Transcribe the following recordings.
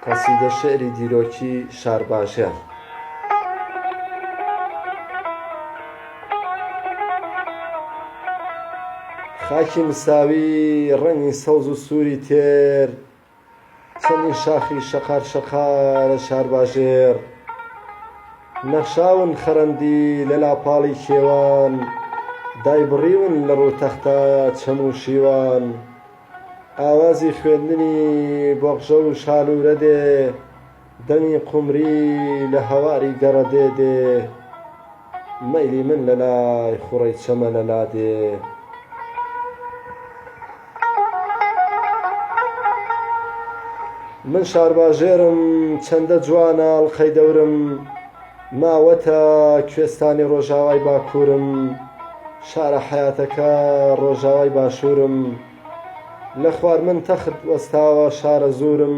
قەسیدە شعری دیرۆکی شارباژێڕ خاکی مساوی ڕەنگی سەوز و سووری تێر چەمی شاخی شەقار شەقارە شارباژێڕ نەخشاون خەرەندی لە لاپاڵی کێوان دایبڕیون لە ڕوو تەختە چەم و شیوان ئاوازی خوێندنی بۆقژە و شالوورە دێ دەمی قومری لە هەواری گەڕە دێ دێ مەیلی من لە لای خوڕەی چەمەنە لا دێ. من شارباژێرم چەندە جوانە ئەڵقەی دەورم ماوەتە کوێستانی ڕۆژاوای باکوورم شارە حەیاتەکە ڕۆژاوای باشوورم لە خوار من تەخت وەستاوە شارە زوورم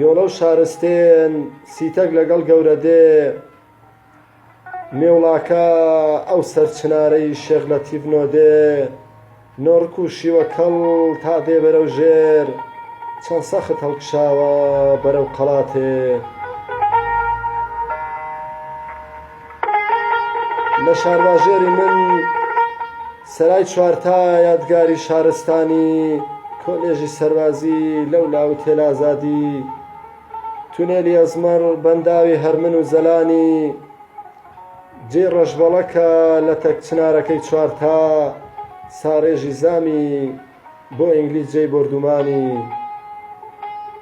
یۆلە و شارستێن سیتەک لەگەڵ گەورەدێ مێوڵاکە ئەو سەر چنارەی شێخ لەتیف نۆدێ نۆڕک و شیوە کەڵ تا دێ بەرەو ژێر چەند سەخت هەڵکشاوە بەرەو قەڵاتێ لە شارباژێری من سەرای چوارتا یادگاری شارستانی کۆلێژی سەربازی لەولا ئوتێل ئازادی تونێلی ئەزمەڕ بەنداوی هەرمن و زەلانی جێی ڕەشبەڵەکە لەتەک چنارەکەی چوارتا ساڕێژی زامی بۆ ئینگلیز جێی بۆردومانی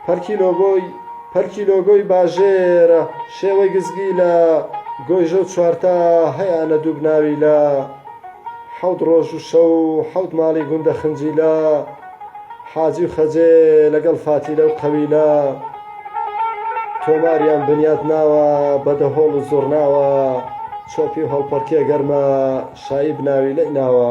پەرکی لۆگۆی پەرکی لۆگۆی باژێرە شێوەی گزگی لە گۆیژە و چوارتا هەیانە دووبناوی لە حەوت ڕۆژ و شەو حەوت ماڵی گوندە خنجیلە حاجی و خەجێ لەگەڵ فاتیلە و قەویلە تۆماریان بنیات ناوە بەدەهۆڵ و زۆرناوە چۆپی و هەڵپەڕکێ گەرمە شایی بناوی لەی ناوە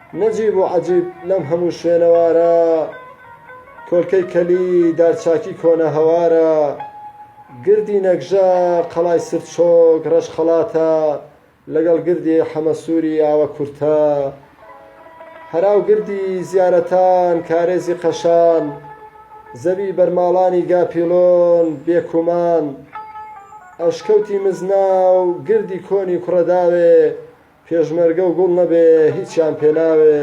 نەجیب و عەجیب لەم هەموو شوێنەوارە، کۆلکەی کەلی دارچاکی کۆنە هەوارە، گردی نەگژە قەڵای سرچۆک ڕەش خەڵاتە، لەگەڵ گردی حەمەسووری ئاوە کورتە، هەرا و گردی زیارەتان کارێزی قەشان، زەوی بەرماڵانی گاپیڵۆن بێ کومان، ئەشکەوتی مزنا و گردی کۆنی کوڕەداوێ، پێشمەرگە و گوڵ نەبێ هیچیان پێ ناوێ.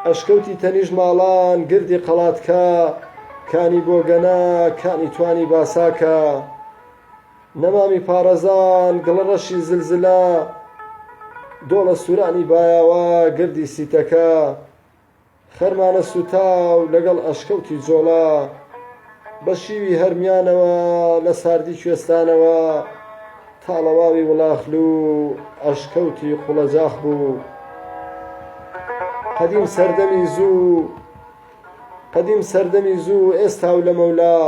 ئەشکەوتی تەنیشت ماڵان گردی قەڵاتکا کانی بۆگەنە کانی توانی باساکە نەمامی پاڕەزان گڵە ڕەشی زلزلە دۆڵە سورانی بایاوە گردی سیتەکە خەرمانە سووتاو لەگەڵ ئەشکەوتی جۆڵا بە شیوی هەرمیانەوە لە ساردی کوێستانەوە تاڵەواوی وڵاخلو ئەشکەوتی قوڵەجاخ بوو قەدیم سەردەمی زوو قەدیم سەردەمی زوو ئێستا و لەمەولا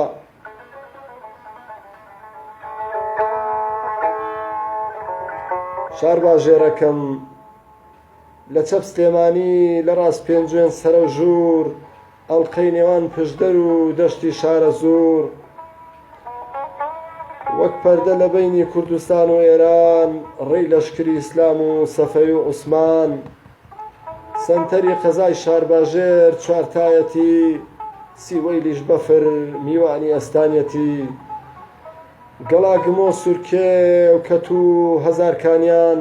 شارباژێرەکەم لە چەپ سلێمانی، لە ڕاست پێنجوێن سەرەوژوور، ئەڵقەی نێوان پشدەر و دەشتی شارەزوور، وەک پەردە لە بەینی کوردستان و ئێران، ڕێی لەشکری ئیسلام و سەفەوی و عوسمان، سەنتەری قەزای شارباژێر چوارتایەتی، سیوەیلیش بەفر میوانی ئەستانیەتی، گەڵاگمۆ، سورکێ و کەتوو هەزارکانیان،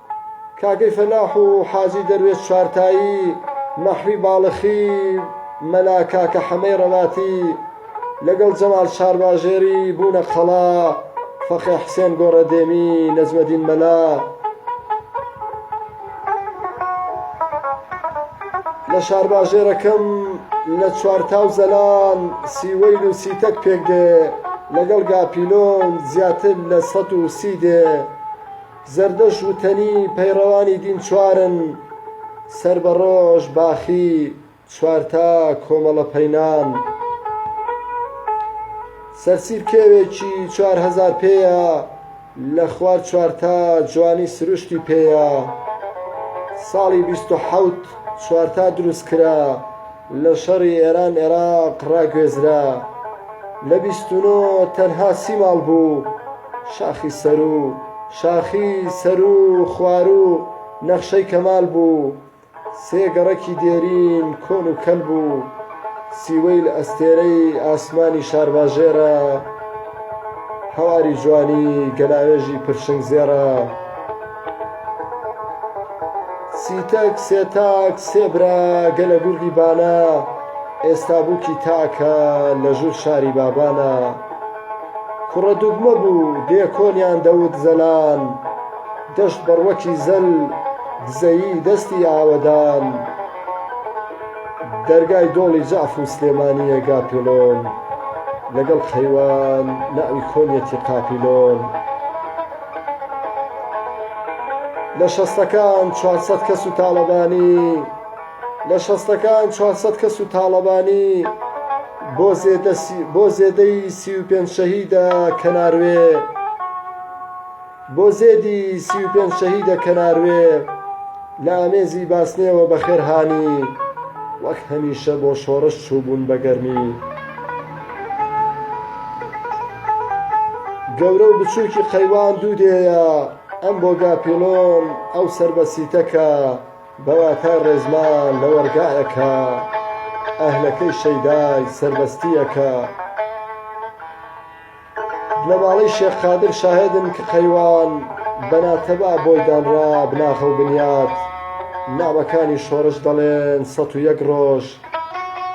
کاکەی فەلاح و حاجی دەروێش چوارتایی، مەحوی باڵخی، مەلا کاکە حەمەی ڕەباتی، لەگەڵ جەمال چارباژێری، بوونە قەڵا، فەقێ حسێن گۆڕەدێمی، نەجمەدین مەلا، لە شارباژێرەکەم لە چوارتا و زەلان، سیوەیل و سیتەک پێک دێ، لەگەڵ گاپیلۆن زیاتر لە سەد و سی دێ. زەردەشت وتەنی پەیڕەوانی دین چوارن، سەر بە ڕۆژ، باخی، چوارتا کۆمەڵە پەینان. سەرسیر کێوێکی چوار هەزار پێیە، لە خوار چوارتا جوانی سروشتی پێیە. ساڵی بیست و حەوت چوارتا دروست کرا. لە شەڕی ئێران ئێراق ڕاگوێزرا. لە بیست و نۆ تەنها سی ماڵ بوو. شاخی سەروو، شاخی سەروو خواروو نەخشەی کەمال بوو. سێ گەڕەکی دێرین کۆن و کەل بوو. سیوەیل ئەستێرەی ئاسمانی شارباژێرە. هەواری جوانی گەلاوێژی پرشنگ زێڕە. سی تەک سێ تاک سێ برا گە لە گوردی بانە ئێستا بووکی تاکە لە ژوور شاری بابانە کوڕە دوگمە بوو دێ کۆنیان دەوت زەلان دەشت بەڕوەکی زەل دزەیی دەستی ئاوەدان دەرگای دۆڵی جەعف و سلێمانییە گاپێلۆن لەگەڵ خەیوان ناوی کۆنیەتی قاپیلۆن لە شەستەکان چوار سەد کەس و تاڵەبانی لە شەستەکان چوار سەد کەس و تاڵەبانی بۆ زێدە بۆ زێدەی سی و پێنج شەهیدە کەناروێ بۆ زێدی سی و پێنج شەهیدە کەناروێ لە ئامێزی باسنێەوە بەخێرهانی وەک هەمیشە بۆ شۆڕش چووبوون بە گەرمی گەورە و بچووکی قەیوان دوو دێیە، ئەم بۆ گاپیڵۆن، ئەو سەر بە سیتەکە، بە واتای ڕێزمان لە وەڕگایەکە، ئەهلەکەی شەیدای سەربەستییەکە. بنەماڵەی شێخ قادر شاهێدن کە قەیوان بە ناتەبا بۆی دانرا بناغە و بنیات، نامەکانی شۆڕش دەڵێن سەد و یەک ڕۆژ،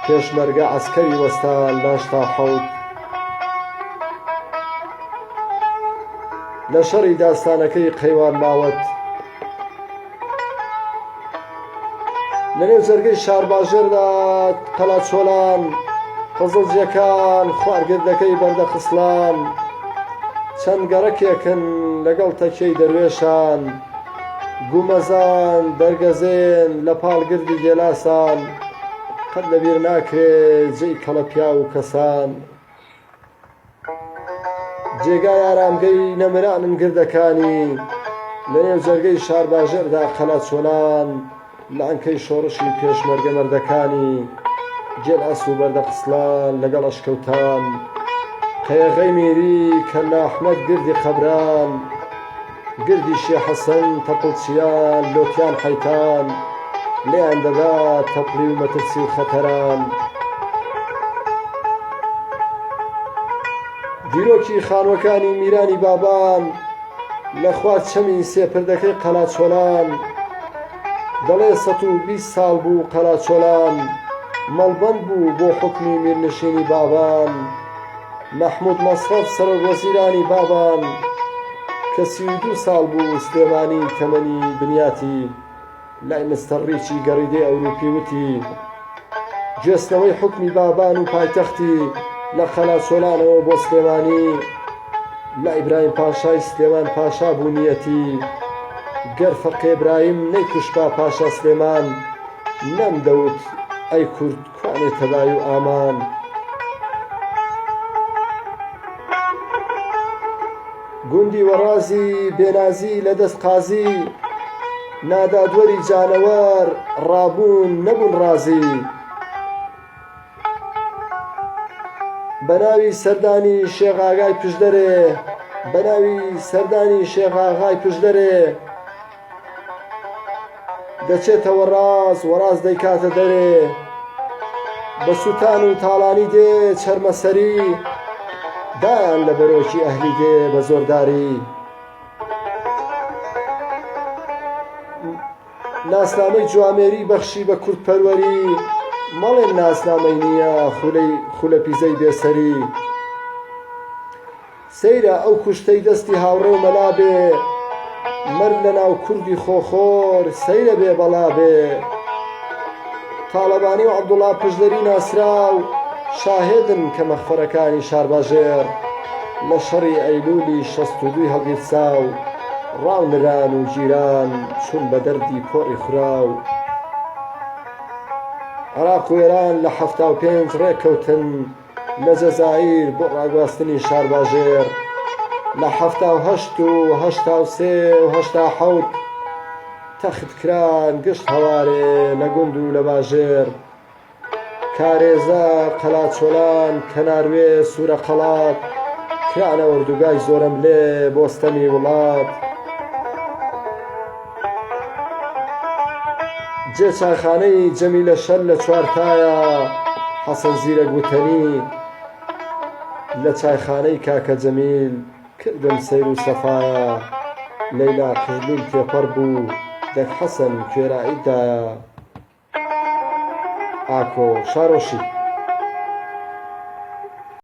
پێشمەرگە عەسکەری وەستا لاش تا حەوت لە شەڕی داستانەکەی قەیوان ماوەت لەنێو جەرگەی شارباژێردا قەلاچۆلان قزڵجیەکان خوارگردەکەی بەردەخسڵان چەند گەڕەکێکن لەگەڵ تەکیەی دەروێشان گومەزان دەرگەزێن لە پاڵ گردی گێلاسان قەت لە بیر ناکرێ جێی کەڵە پیاو و کەسان جێگای ئارامگەی نەمرانن گردەکانی لە نێو جەرگەی شارباژێردا قەلە چۆلان لانکەی شۆڕشی پێشمەرگە مەردەکانی جێل ئاسوو بەردە قسڵان لەگەڵ ئەشکەوتان قەیەغەی میری کەللا ئەحمەد گردی قەبران گردی شێ حەسەن تەپڵچیان لۆتیان حەیتان لێیان دەدا تەپڵی و مەترسی و خەتەران دیرۆکی خانوەکانی میرانی بابان لە خوار چەمی سێپردەکەی قەلاچۆلان دەڵێ سەد و بیست ساڵ بوو قەراچۆلان مەڵبەند بوو بۆ حوکمی میرنشینی بابان مەحمود مەسرەف سەرۆک وەزیرانی بابان کە سی و دوو ساڵ بوو سلێمانی تەمەنی بنیاتی لای مستەر ڕیچی گەڕیدەی ئەوروپی وتی گوێستنەوەی حوکمی بابان و پایتەختی لە قەلاسۆلانەوە بۆ سلێمانی لە ئیبراهیم پاشای سلێمان پاشا بوونیەتی گەر فەقێبراهیم نەیکوشتبا پاشا سلێمان نەمدەوت ئەی کورد کوانێ تەبای و ئامان گوندی وەڕازی بێنازی لە دەست قازی، نادادوەری جانەوەر ڕابوون نەبوون ڕازی. بە ناوی سەردانی شێخ ئاغای پشدەرێ، بە ناوی سەردانی شێخ ئاغای پشدەرێ. دەچێتەوە ڕاست وەڕاست دەیکاتە دەرێ بە سووتان و تاڵانی دێ چەرمەسەری دایان لە بەرۆکی ئەهلی دێ بە زۆرداری ناسنامەی جوامێری بەخشی بە کوردپەروەری مەڵێن ناسنامەی نییە خولەی خولەپیزەی بێسەری سەیرە ئەو کوشتەی دەستی هاوڕێ مەلا بێ مەرد لە ناو کوردی خۆخۆر سەیرە بێ بەڵا بێ تاڵەبانی و عەبدوڵا پشدەری ناسراو شاهێدن کە مەخفەرەکانی شارباژێڕ لە شەڕی ئەیلوولی شەست و دووی هەڵگیرسا و ڕاو نران و گیران چون بە دەردی پۆڕی خوراو عراق و ئێران لە حەفتا و پێنج ڕێککەوتن لە جەزائیر بۆ ڕاگواستنی شارباژێڕ لە حەفتا و هەشت و هەشتا و سێ و هەشتا حەوت تەخت کران گشت هەوارێ لە گوند و لە باژێڕ کارێزە قەلاچۆلان کەناروێ سوورە قەڵات کرانە ئۆردوگای زۆرەملێ بۆ ستەمی وڵات. جێ چایخانەی جەمیلە شەل لە چوارتایە حەسەن زیرەک وتەنی لە چایخانەی کاکە جەمیل کردم سەیر و سەفایە لەیلا قیرلول تێپەڕ بوو دەک حەسەن کوێرایی دایە ئاکۆ شارۆشی.